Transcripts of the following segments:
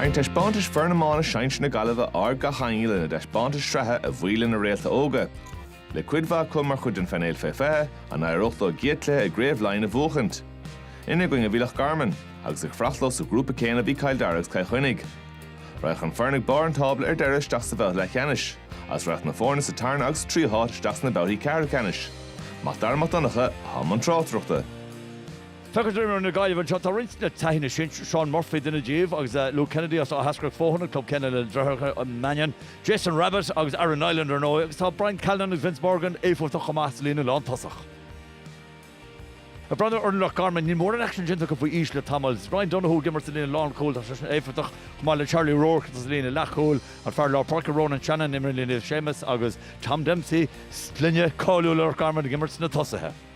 Tharraing taispeántais Foireann Iomána Sinsir na Gaillimhe aird gach éinne lena dtaispeántais sraithe a bhuí lena réalta óga, le cuid mhaith acu mar chuid den phainéal fé 20, an éireodh leo a gcéad cluiche i gCraobh Laighean a bhuachaint. Ina gcoinne a bhí Loch Garman, agus ag fanacht leo sa ghrúpa céanna bhí Cill Dara agus Cill Chainnigh. Rachaidh an foireann ag barr an tábla ar deireadh isteach sa bhabhta leathcheannais, agus rachaidh na foirne sa tarna agus sa tríú háit isteach sna babhtaí ceathrú ceannais. Mac Dara Mac Donncha i mbun tráchtaireachta. Feictear dom ar na Gaillimhigh anseo, tá roinnt le taithí na sinsir, Seán Murphy duine díobh agus Luke Kennedy as Áth Eascrach Fothaine an club céanna leis na deartháireacha Mannion, Jason Rabbitte agus Aaron Niland ar ndóigh, agus tá Brian Callanan agus Vince Morgan éifeachtach chomh maith sa líne lántosach. Ag breathnú ar Loch Garman, níl mórán aicsin déanta acu faoi aois le tamall. Is Ryan Donoghue ag imirt sa líne lánchúil, tá seisean éifeachtach chomh maith le Charlie Roark atá sa líne leathchúil, an fear lár páirce Ronan Shannon a imríonn le Naomh Séamus agus Tom Dempsey, sloinne cáiliúil Loch Garman, ag imirt sna tosaithe.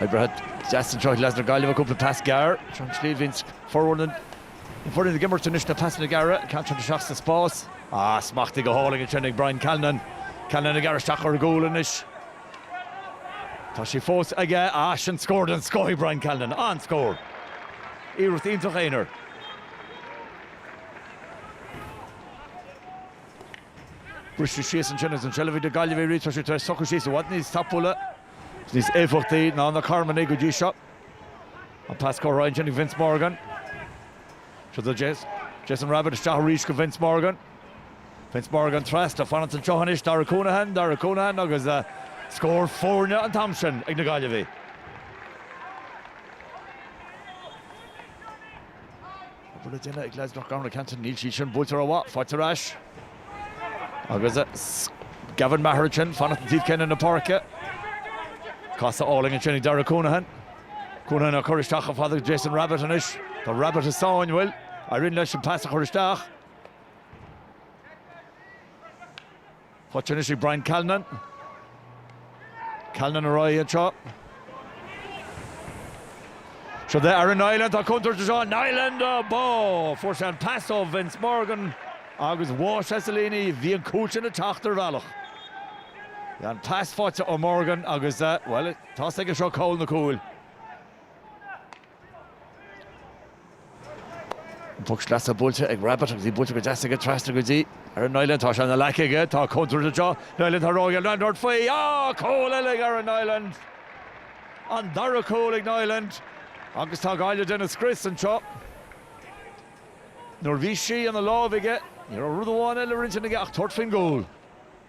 Oibrithe deasa anseo leis na Gaillimhigh, cúpla pas gearr, sin an tslí a mbíonn formhór na foirne ag imirt anois na pasanna gearra, ceann díreach isteach sa spás. Ah, smachtaithe go hálainn ansin ag Brian Callanan. Callanan ag gearradh isteach ar an gcúl anois. Tá sí fós aige. Ah, sin scór den scoth ag Brian Callanan. An-scór. Iarracht iontach aonair. Bristear síos ansin agus an tseilbh ag Gaillimh arís, tá siad tar éis socrú síos i bhfad níos tapúla agus níos éifeachtaí ná na Carmanaigh go dtí seo. An pas curtha ar aghaidh ansin ag Vince Morgan. Siod é Jason Rabbitte isteach arís go Vince Morgan. Vince Morgan trasna fanann sé anseo anois Dara Counihan, Dara Counihan agus uh, scór foirne an t-am sin ag na Gaillimhigh. An bhfuil le déanamh ag leaids Loch Garman Canton? Níl sí sin buailte rómhaith. Faighte ar ais. Agus Gavin Maher ansin, fanacht an taobh céanna na páirce. Casadh álainn ansin ag Darragh Counihan. Counihan á cur isteach chomh fada le Jason Rabbitte anois. Tá Rabbitte i sáinn, bhuel, éiríonn leis an pas a chur isteach. Faighte anois ag Brian Callanan. Callanan ar aghaidh anseo. Siod é Aaron Niland, tá contúirt anseo, Niland, bó! Fuair sé an pas ó Vince Morgan agus bháigh sé sa líon í, bhí an cúl sin ag teacht ar bhealach. An pas faighte ó Morgan agus, bhuel, tá a fhios aige seo cá bhfuil na cúil. Poc sleasa buailte ag Rabbitte agus í buailte go deas aige trasna go dtí Aaron Niland, tá sí ina ghlac aige, tá contúirt anseo, Niland, tá sé ag dul ag tabhairt faoi. Á! Cúl eile ag Aaron Niland! An dara cúl ag Niland agus tá Gaillimh ag déanamh scrios anseo. Nuair a bhí sí ina lámh aige, ní raibh rud amháin eile ar intinn aige ach tabhairt faoin gcúl.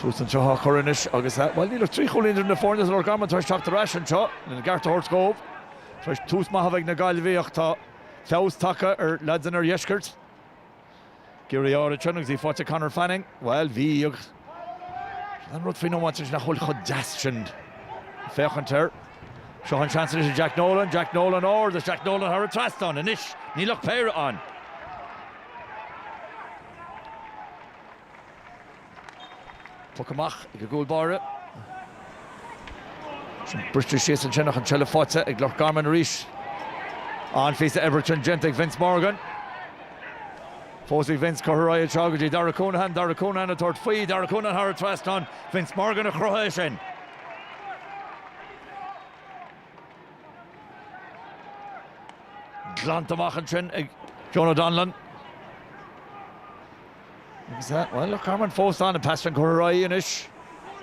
Tús anseo á chur anois agus, bhuel, níl ach trí chúilín idir na foirne is Loch Garman tar éis teacht ar ais anseo, lena gceart a thabhairt dhóibh, tar éis tús maith a bheith ag na Gaillmhigh ach tá feabhas tagtha ar leaids an oirdheiscirt. Go hard ansin agus í faighte ag Conor Fanning. Bhuel, bhí agus aon rud faoin iomáint anois nach bhfuil chomh deas sin ag féachaint air. Seo an seans anois ag Jack Nolan, Jack Nolan ard agus Jack Nolan thar an trasnán anois. Níl ach péire ann. Puc amach ag an gcúl báire. Bristear síos ansin ach an tseilbh faighte ag Loch Garman arís. An-phíosa oibre ansin déanta ag Vince Morgan. Fós ag Vince curtha ar aghaidh anseo go dtí Darragh Counihan. Darragh Counihan ag tabhairt faoi. Darragh Counihan thar an trasnán. Vince Morgan a chruthaigh é sin. Glanta amach ansin ag Jonah Donnellan. Bhuel, Loch Garman fós ann, an pas sin curtha ar aghaidh anois.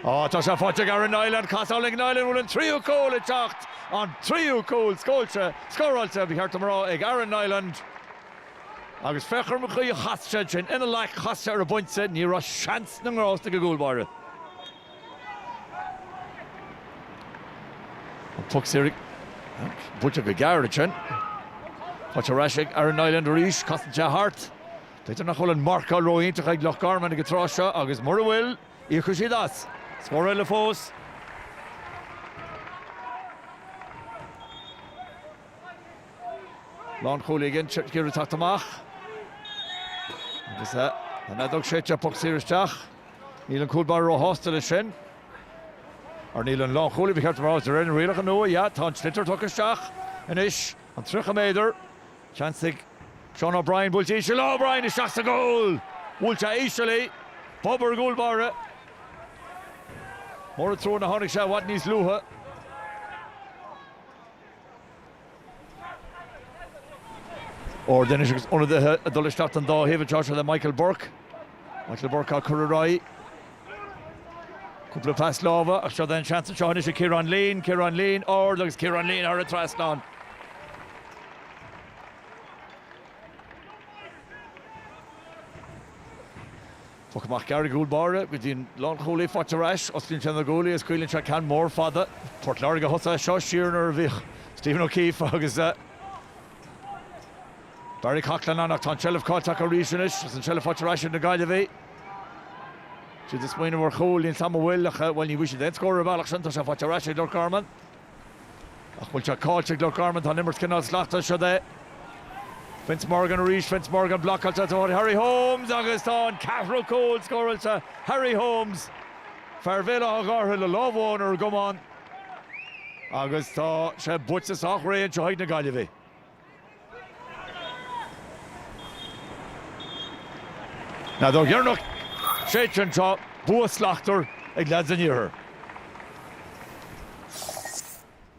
Á, tá sé faighte ag Aaron Niland, casadh álainn ag Niland, an bhfuil an tríú cúl ag teacht? An tríú cúl scóilte, scóráilte, ba cheart dom a rá, ag Aaron Niland. Agus féach ar an gcaoi a chas sé sin, ina leac, chas sé ar an bpointe, ní raibh seans na ngrás ag an gcúl báire. An puc saor ag, buailte go gearr ansin. Faighte ar ais ag Aaron Niland arís, casann sé thart. Feictear nach bhfuil an marcáil ró-iontach ag Loch Garman ag an tráth seo agus mura bhfuil, íocfaidh siad as. Scór eile fós. Lánchúlaí ag iarraidh teacht amach agus an fheadóg séidte puc saor isteach. Níl an cúl báire ró-shásta leis sin. Or níl an lánchúlaí, ba cheart dom a rá, is de réir na rialacha nua, yeah, tá an sliotar tugtha isteach anois, an 30 méadar. Seans ag Seán O'Brien, buailte íseal le O'Brien isteach sa gcúl! Buailte íseal, bob ar an gcúl báire. Mór an trua nach tháinig sé i bhfad níos luaithe. Or ndóigh anois agus ionadaithe ag dul isteach don dá thaobh an tráth seo le Michael Burke. Michael Burke á chur ar aghaidh. Cúpla pas láimhe, ach seo é an seans anseo anois ag Ciarán Leen. Ciarán Leen, ard, agus Ciarán Leen thar an trasnán. Puc amach gearr ón gcúl báire go dtí an lánchúlaí, faighte ar ais. Osclaíonn sé na guaillí agus scaoileann sé ceann mór fada. Port Láirge a thosaigh é seo siar nuair a bhíodh Stephen O'Keeffe agus. Barry Coughlan ann ach tá an tseilbh caillte acu arís anois agus an tseilbh faighte ar ais ag na Gaillimhigh. Siad ag smaoineamh ar chúl, níl sé an t-am a bhfuil, ní bhfuair siad aon scór ar an bhealach sin, tá sé faighte ar ais ag Loch Garman. Ach bhfuil sé caillte ag Loch Garman, tá an imirt cineál sleamchúiseach, siod é. Vince Morgan arís, Vince Morgan blocáilte ag Harry Holmes agus tá an ceathrú cúl scóráilte, Harry Holmes, fear Bhéal Átha Ghártha le lámh amháin ar an gcamán, agus tá sé buaite sách réidh anois ag na Gaillimhigh. Ar ndóigh ar an séideadh anseo, bua slachtmhar ag leads an iarthair.